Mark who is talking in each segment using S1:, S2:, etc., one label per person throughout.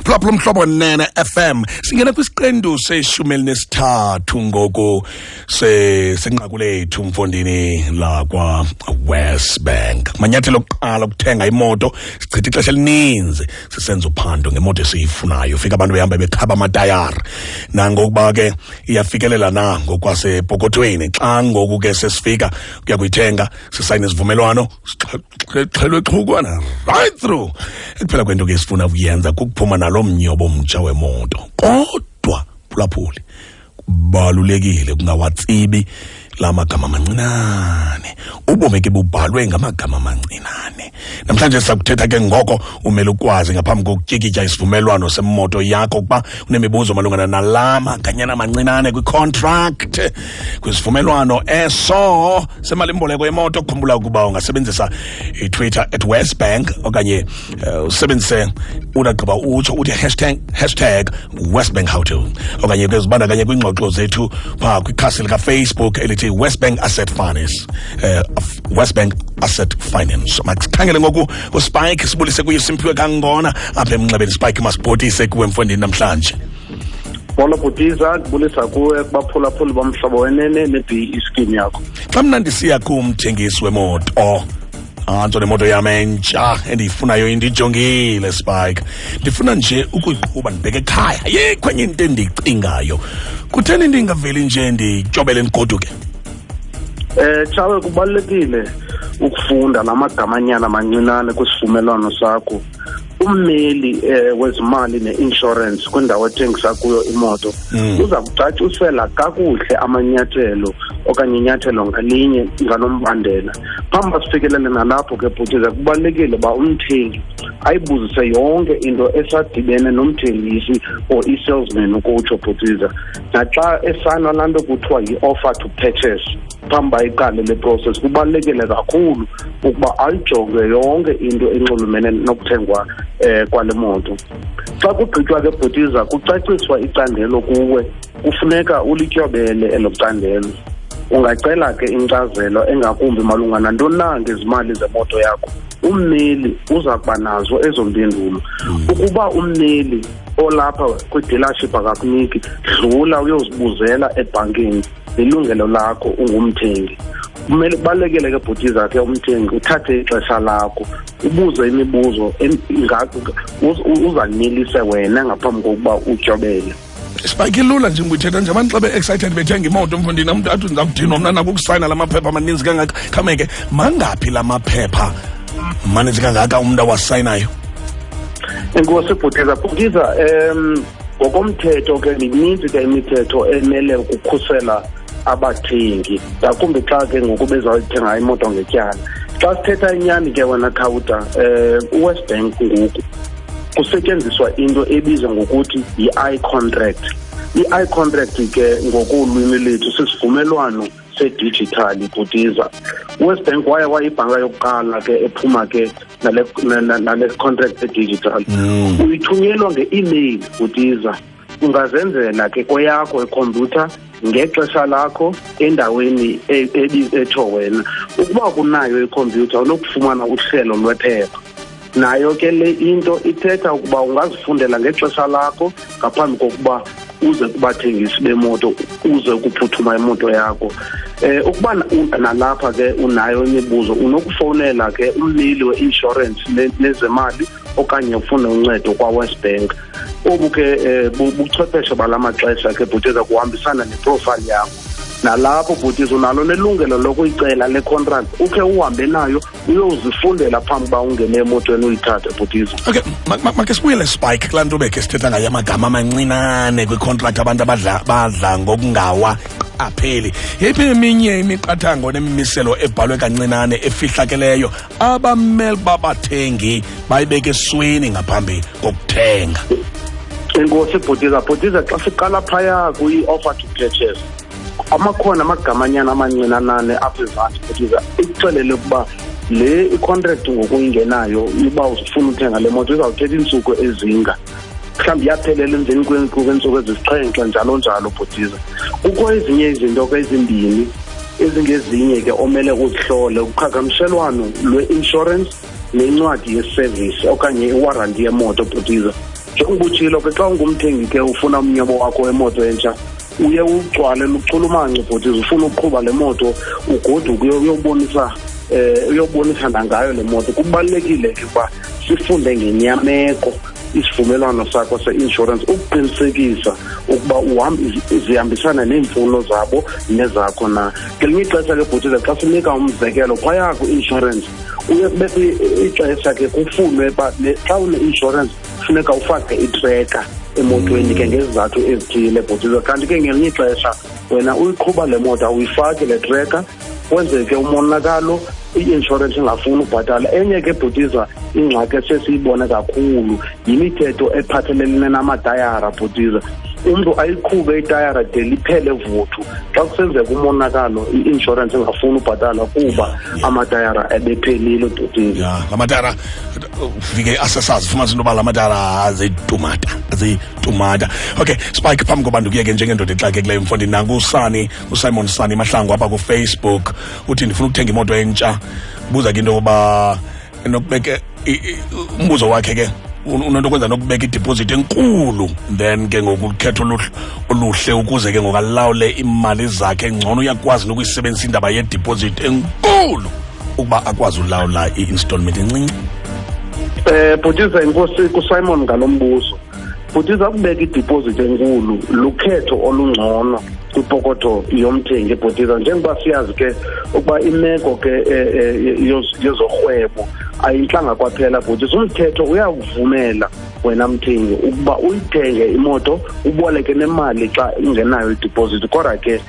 S1: phulaphula umhlobo nene fm singena kwisiqendu seshumi elinesithathu ngoku senqaku lethu mfondini lakwa-west bank manyathelo okuqala okuthenga imoto sichitha ixesha elininzi sisenza uphando ngemoto esiyifunayo fika abantu behamba bekhaba amatayara nangokuba ke iyafikelela na ngokwasepokothweni xa ngoku ke sesifika kuya kuyithenga sisayine isivumelwano xelwe xhukwana right through ekuphela kwento ke sifuna ukuyenza kukuphuma nalo mnyobo mtsha wemoto kodwa phulaphuli kubalulekile kungawatsibi la magama mancinane ubomi ke bubhalwe ngamagama mancinane namhlanje sakuthetha ke ngoko umele ukwazi ngaphambi kokutyikitya isivumelwano semoto yakho ukuba unemibuzo malungana nala maganyana mancinane kwicontract kwisivumelwano eso semalimboleko yemoto khumbula ukuba ungasebenzisa itwitter at westbank okanye uh, usebenzise unagqiba utsho uthi hashtag, hashtag westbank how to okanye ke zibandakanye kwiingxoxo zethu phaa kwikhasi likafacebook elithi westbank asset finance uh, westbank asset finance masikhangele ngoku uspike sibulise kuye simphiwe kangona apha emnxebeni spike masibhotise kuwe mfondini namhlanje molo
S2: bhutiza ndibulisa kuwe kubaphulaphuli bomhlobo wenene ne-b iskim yakho xa mna ndisiya
S1: kumthengisi wemoto antso nemoto yam entsha endiyifunayo indijongile spike ndifuna nje ukuyiqhuba ndibheke ekhaya yikho enye into endiyicingayo kutheni ndingaveli nje ndityobele ndigoduke eh
S2: chawe kubalulekile ukufunda la magamanyana mancinane kwisivumelwano sakho ummeli eh, wezimali ne-insurance kwindawo ethengisa kuyo imoto mm. uza kucacisela kakuhle amanyathelo okanye inyathelo ngalinye ngalombandela phambi basifikelele nalapho ke bhutiza kubalulekile uba umthengi ayibuzise yonke into esadibene nomthengisi or i-salesman ukutsho bhutiza naxa esanwa laa nto kuthiwa yi-offer to purchase phambi uba iqale le process kubalulekile kakhulu ukuba ayijonge yonke into enxulumene nokuthengwa um kwale moto xa kugqitywa ke bhutiza kucaciswa icandelo kuwe kufuneka ulityobele elo candelo ungacela ke inkcazelo engakumbi malunga nantoni na ngezimali zemoto yakho ummeli uza kuba nazo ezo mpendulo hmm. ukuba ummeli olapha kwidealership akakuniki dlula uyozibuzela ebhankini lilungelo lakho ungumthengi kumele ubalekele ke bhuti zakhe umthengi uthathe ixesha lakho ubuze imibuzo uzanelise wena ngaphambi kokuba utyobele sibakhe lula
S1: nje nguyithetha nje abantu xa be-excited bethenga imoto mfundini amntu athi ndiza kudinwa mna nako ukusayina la maphepha amaninzi kangaka khameke mangaphi la maphepha maninzi kangaka umntu awasayinayo
S2: enkosi bhutiza bhutiza um ngokomthetho ke mininzi ke imithetho emele ukukhusela abathengi ngakumbi xa ke ngoku bezawuyithenga imoto ngetyala xa sithetha inyani ke wena khawuta um eh, uwest bank ngoku kusetyenziswa into ebizwa ngokuthi yi-i contract i-i contract ke ngokolwimi lethu sisivumelwano sedijithali bhutiza uwest bank waye wayibhanka yokuqala ke ephuma ke nale contract edigital mm. uyithunyelwa nge-email bhutiza ungazenzela ke kweyakho ikhompyutha ngexesha lakho endaweni e, e, etsho wena ukuba kunayo ikhompyutha unokufumana uhlelo lwephepha nayo ke le into ithetha ukuba ungazifundela ngexesha lakho ngaphambi kokuba uze kubathengisi bemoto uze ukuphuthuma imoto yakho eh ukuba nalapha ke unayo imibuzo unokufowunela ke ummeli we-insurance nezemali okanye ufune uncedo kwa-west bank obu ke eh, buchwepheshe bala maxesha ke bhuti eza kuhambisana neprofayile yakho nalapho bhuti unalo nelungelo lokuyicela le contract ukhe uhambe nayo uyozifundela phambi uba ungene emotweni uyithathe bhutizo okay make
S1: sibuyele spike kulaa nto bekhe sithetha ngayo amagama amancinane kwikhontrakthi abantu badla ngokungawa apheli yeyiphi eminye imiqathango nemimiselo ebhalwe kancinane efihlakeleyo abamele babathengi bayibeke esweni ngaphambi kokuthenga
S2: inkosi bhutiza bhutiza xa siqala phaya kwi-offer to purchase amakhona amagamanyana amancinanane apha ezantsi kutiza ikuxelele ukuba le icontract ngokuyingenayo uba ufuna uthenga le moto izawuthetha iintsuku ezinga mhlawumbi iyaphelela emveni kweentsuku ezisixhenxe njalo njalo bhutiza kukho ezinye izinto ke ezimbini ezingezinye ke omele uzihlole uqhagamshelwano lwe-insurance nencwadi yeservice okanye iwaranti yemoto bhutiza njengoba utshilo ke xa ungumthengi ke ufuna umnyobo wakho wemoto entsha uye ugcwale luchulumanco bhuti zifuna ukuqhuba le moto ugoduke uyobonisa um eh, uyobonisa nangayo le moto kubalulekile ke ukuba sifunde ngenyameko isivumelwano sakho se-insurance ukuqinisekisa ukuba zihambisana neemfuno zabo nezakho na ngelinye ixesha ke bhutile xa sinika umzekelo phaya kwi-insurance uye kubekho ixesha ke kufunwe uba xa une-insurance funeka ufake itreka emotweni ke ngezizathu ezithile bhutizo kanti ke ngelinye ixesha wena uyiqhuba le moto awuyifaki le treka kwenzeke umonakalo i-inshorensi ingafuni ubhatala enye ke bhutiza ingxaki esesiyibone kakhulu yimithetho ephathelelene namatayara bhutiza umntu ayiqhube itayara de liphele vuthu xa kusenzeka umonakalo i-inshorensi ingafuni ubhatala kuba amatayara ebephelile bhutiza amatayara
S1: ufike asasazi ufumanisa into yoba la matala azitumata azitumata okay spike phambi koba ndikuyeke njengendoda exakekileyo mfo ndinanku usani usimon sani mahlangu apha kufacebook uthi ndifuna ukuthenga imoto entsha buza ke into yokuba nokubeke umbuzo wakhe ke unento kwenza nokubeka idipozithi enkulu then ke ngoku ukhetho oluhle ukuze ke ngokalawule iimali zakhe ngcono uyakwazi nokuyisebenzisa indaba yedipozithi enkulu ukuba akwazi ulawula i-installment encinci um
S2: bhutiza inkosi kusimon ngalo mbuzo bhutiza kubeka idipozithi enkulu lukhetho olungcono kwipokotho yomthengi ebhutiza njengoba siyazi ke ukuba imeko ke eh, eh, yezorhwebo ayintlanga kwaphela bhutiza umthetho uyakuvumela wena mthengi ukuba uyithenge imoto uboleke nemali xa ungenayo idipozithi kodwa ke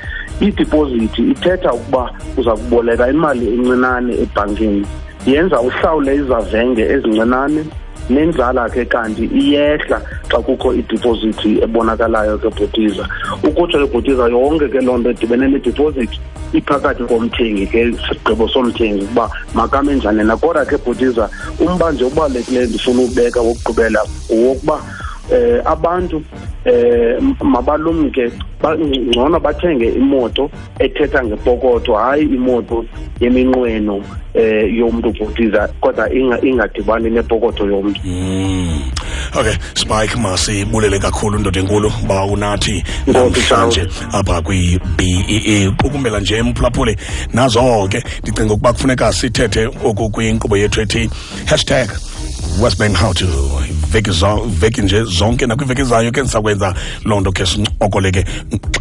S2: idipozithi ithetha ukuba uza kuboleka imali encinane ebhankini yenza uhlawule izavenge ezincinane nenzala ke kanti iyehla xa kukho idipozithi ebonakalayo ke bhutiza ukutsho ke bhutiza yonke ke loo nto edibene nedipozithi iphakathi komthengi ke sigqibo somthengi ukuba makame njani na kodwa ke bhutiza umba nje obalulekileyo ndifuna ubeka wokugqibela wokuba eh abantu eh mabalumke ngcono bathenge imoto ethetha ngepokotho hayi imoto yeminqweno eh yomuntu ubhutiza kodwa ingadibani nepokotho yomuntu hmm.
S1: okay spike masibulele kakhulu ndoda enkulu ba unathi namhlanje apha kwi-bee qukumbela nje mphulaphuli nazo ke ndicinga ukuba kufuneka sithethe oku kwinkqubo yethu ethi hashtag westbank how to veki, zo, veki nje zonke nakwiveki zayo ke ndisakwenza loo nto ke sincokole ke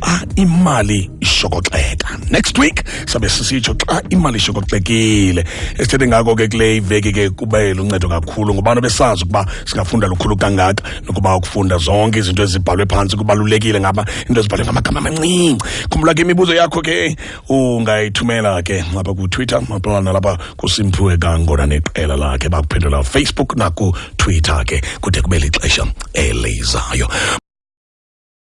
S1: xa imali ishokoxeka next week sabe sisitsho xa imali ishokoxekile esithethe ngako ke kule iveki ke kube luncedo kakhulu ngobana besazi ukuba singafunda lukhulu kangaka nokuba ukufunda zonke izinto ezibhalwe phantsi kubalulekile ngaba into ezibhalwe ngamagama amancinci khumbula ke imibuzo yakho ke ungayithumela ke apha kutwitter apha nalapha kusimphiwe kangona neqela lakhe bakuphendula facebook nakutwitter ke kude kube lixesha elizayo